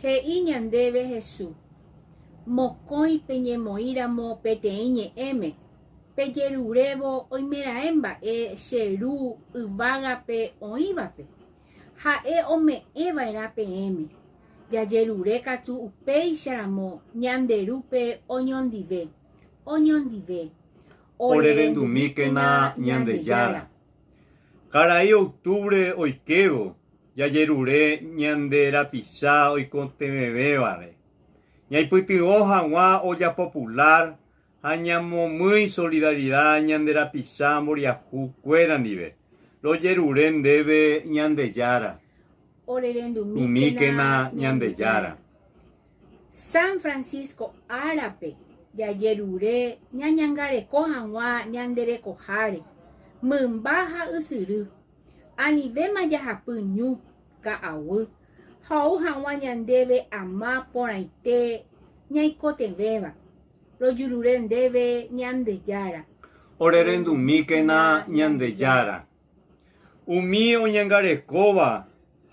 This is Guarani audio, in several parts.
He'i ñandéve Hesu, Mokõi peñemoĩramo peteĩ ñe'ẽme, pejerurévo oimeraẽ mba'e che Ru yvágape oĩvape, ha'e ome'ẽ va'erã peẽme, jajerure katu upéicha ramo ñande Rúpe oñondive, oñondive, orerendumíkena Ñandejára. Karai octubre oikévo, jajerure ñande rapicha oikotevẽvévare, ñaipytyvõ hag̃ua ojapo pular ha ñamomýi solidaridad ñande rapicha mboriahu kuéra ndive. Rojerure ndéve Ñandejára. Umíkena Ñandejára. San Francisco árape, jajerure ñañangareko hag̃ua ñande rekoháre, mymba ha ysyry, Anivéma jahapy ñu, ka'aguy, ha ou hag̃ua ñandéve ama porãite ñaikotevẽva, rojurure ndéve Ñandejára. Orerendumíkena Ñandejára, umi oñangarekóva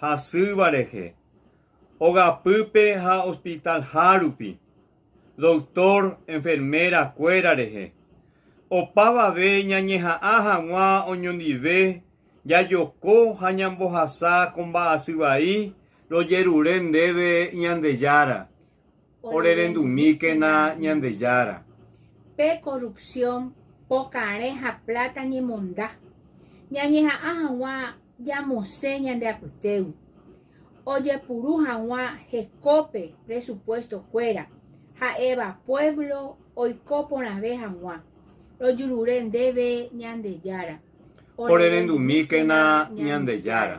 hasýva rehe, ogapýpe ha hospital hárupi, doktór, enferméra kuéra rehe. Opavave ñañeha'ã hag̃ua oñondive jajoko ha ñambohasa ko mba'asy vai rojerure ndéve Ñandejára, orerendumíkena Ñandejára. Pe korrupsión, pokarẽ ha pláta ñemonda, ñañeha'ã hag̃ua Ñamosẽ ñande apytégui ojepuru hag̃ua hekópe presupuesto kuéra ha'éva pueblo oiko porãve hag̃ua rojurure ndéve Ñandejára. Orerendu'míkena Ñandejára.